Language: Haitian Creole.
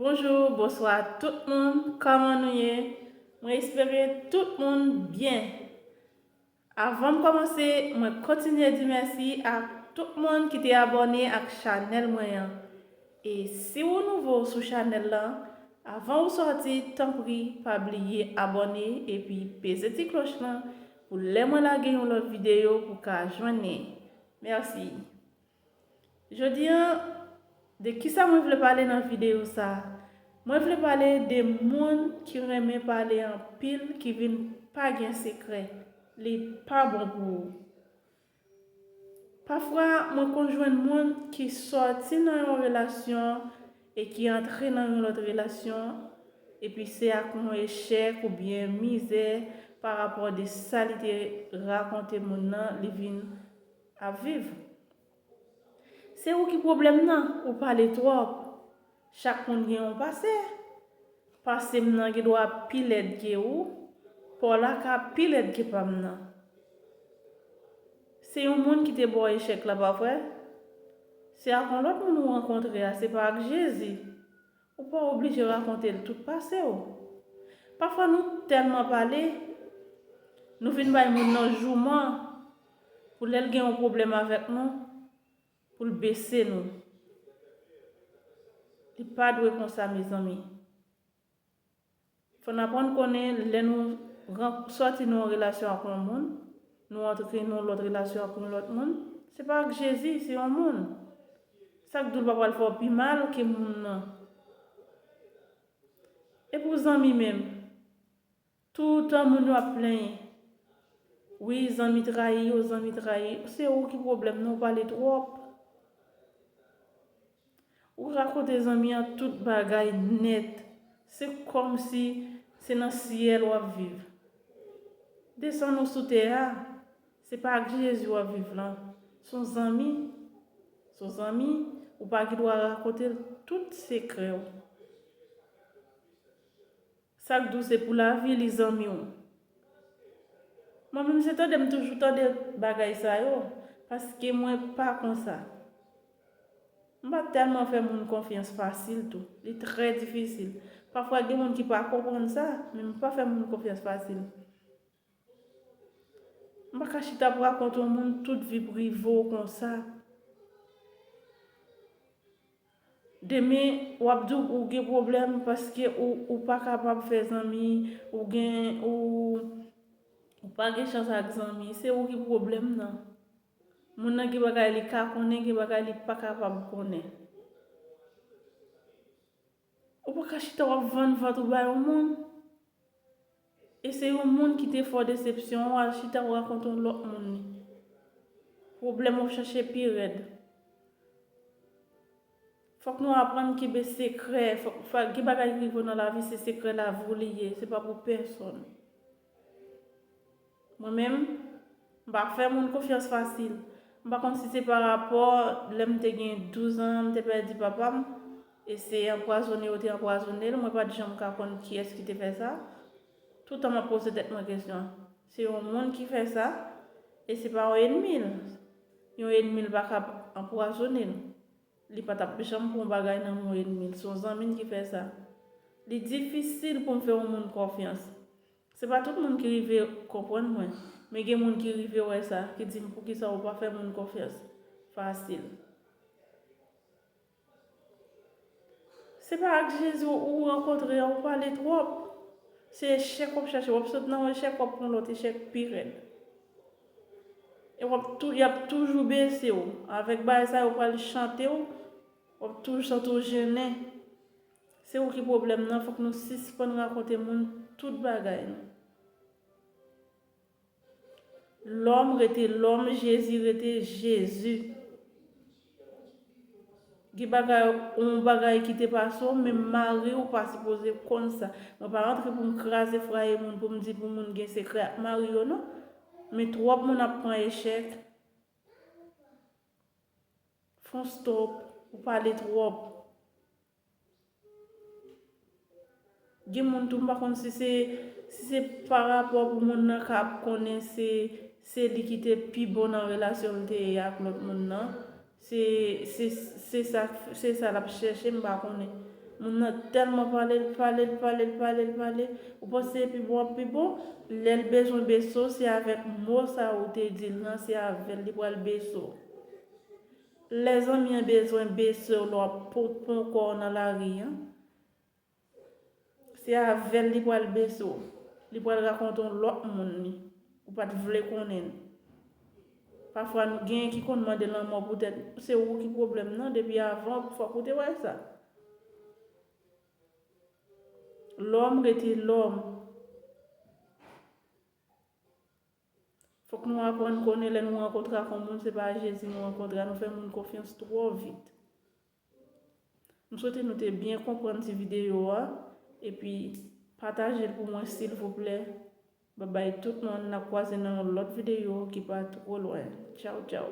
Bonjour bonswa tout moun kòman nou ye mwen espere tout moun byen avan m kòmanse mwen kontinye di mèsi ak tout moun ki te abòne ak chanèl mwen an e si ou nouvo sou chanèl lan avan ou sòti tanpri pa bliye abòne epi peze ti kloch lan pou lè mwen lage yon lòt videyo pou ka jwenn li. Merci. Jodi an, de kisa mwen vle pale nan videyo sa? Mwen vle pale de moun ki renmen pale anpil ki vin pa gen sekrè. Li pa bon pou ou. Pafwa mwen konn jwenn moun ki sòti nan yon relasyon e ki antre nan yon lòt relasyon epi se ak yon echèk oubyen mizè pa rapò de sa li te rakonte moun nan li vin ap viv. Se ou ki pwoblèm nan, ou pale twòp. Chak moun gen yon pase. Pasem nan gendwa pi lèd ke ou. Paw la ka pi lèd ke pam nan. Se yon moun ki te baw echèk la pa vre? Se ak yon lòt moun ou rankontre a se pa ak Jezi? Ou pa oblije rakonte l tout pase w. Pafwa nou tèlman pale, nou vin bay moun nan jouman pou lè l gen yon pwoblèm avèk nou. Pou l bese nou. Li pa dwe konsa mezanmi. Fò n aprann konnen lè nou sòti nan yon relasyon ak yon moun, nou antre nan yon lòt relasyon ak yon lòt moun, se pa ak Jezi, se yon moun. Sa k di w l pa pral fè w pi mal ke moun nan? E pou zanmi menm? Toutan moun yo ap plenyen. Wi zanmi trayi yo zanmi trayi yo se ou ki problème nan ou pale trop ou rakonte zanmi an tout bagay nèt se kòmsi se nan syèl wap viv desann ou sou tè a se pa ak Jezi wap viv lan son zanmi son zanmi ou pa gendwa rakontel tout sekrèw. Sak dous epou lavi li zanmi w. Mwen menm se tande m toujou tande bagay sa yo paske mwen pa konsa. M pa tèlman fè moun konfyans fasil tou. Li trè difisil. Pafwa gen moun ki pa konprann sa men m pa fè moun konfyans fasil. M pa ka chita pou rakont yon moun tout vi prive w konsa. Demen w ap di w gen pwoblèm paske ou pa kapab fè zanmi, ou gen, ou pa gen chans ak zanmi. Se ou ki pwoblèm nan. Moun nan gen bagay li ka konnen, gen bagay li pa kapab konnen. Ou pa ka chita wap vann vant ou ba yon moun e se yon moun ki te fè w desepsyon ou al chita wap rakonte yon lòt moun li. Pwoblèm wap chache pi rèd. Fòk nou aprann kenbe sekrè, gen bagay ki rive w nan lavi se sekrè lavi w li ye, se pa pou pèsonn. Mwen menm, m pa fè moun konfyans fasil. M pa konn si se pa rapò lè m te gen 12 an m te pèdi papa m e se anpwazone yo te anpwazone l, mwen pa t janm ka konn kiyès ki te fè sa. Toutan m ap poze tèt mwen kesyon, se yon moun ki fè sa e se pa yon enmi l. Yon enmi l pa kab anpwazone l. Li pa tap janm pran bagay nan men yon enmi l, se yon zanmi l ki fè sa. Li difisil pou m fè yon moun konfyans. Se pa tout moun ki rive konprann mwen, men gen moun ki rive wè sa, ki di m poukisa ou pa fè moun konfyans fasil. Se pa ak Jezi ou rankontre a ou pale twòp. Se echèk w ap chache, w ap sot nan yon echèk w ap pran yon lòt echèk pi rèd. E wap tou yap toujou bese w. Avek bagay sa yo pral chante w. Wap toujou santi w jennen. Se ou ki pwoblem nan fok nou sispann rakonte moun tout bagay nou. Lom rete lom jezi rete jezi. Gen bagay on bagay ki te pase w menm mari w pa sipoze konn sa. Mwen pa antre pou m kraze fraye moun pou m di pou moun gen sekrè ak mari yo non. Men twòp moun ap pran echèk. Fon stop, ou pale twòp. Gen moun tou m pa konn si se si se pa rapò pou moun nan ka ap konnen se se li ki te pi bon nan relasyon m te ye ak lòt moun nan. Se se se sa se sa l ap chèche m pa konnen. Moun nan tèlman pale l pale l pale l pale l pale. Ou panse se pi bon ap pi bon? Lè l bezwen beso se avèk mo sa ou te di l nan se avè l li pral beso w. Lè zanmi an bezwen besew lè wap ponpon kòw nan lari an se avèl li pral besew li pral rakonte yon lòt moun li ou pat vle konnen l pafwa nou gen ki konn mande lanmò poutèt se ou ki pwoblèm nan depi avan fòk ou te wè sa lòm rete lòm. Fok nou aprann konnen lè nou rankontre ak yon moun se pa Jezi nou rankontre a nou fè moun konfyans twò vit. M swete nou te byen konprann ti videyo a epi pataje l pou mwen silvouplè babay tout moun nap kwaze nan yon lòt videyo ki pa twò lwen tchawtchaw.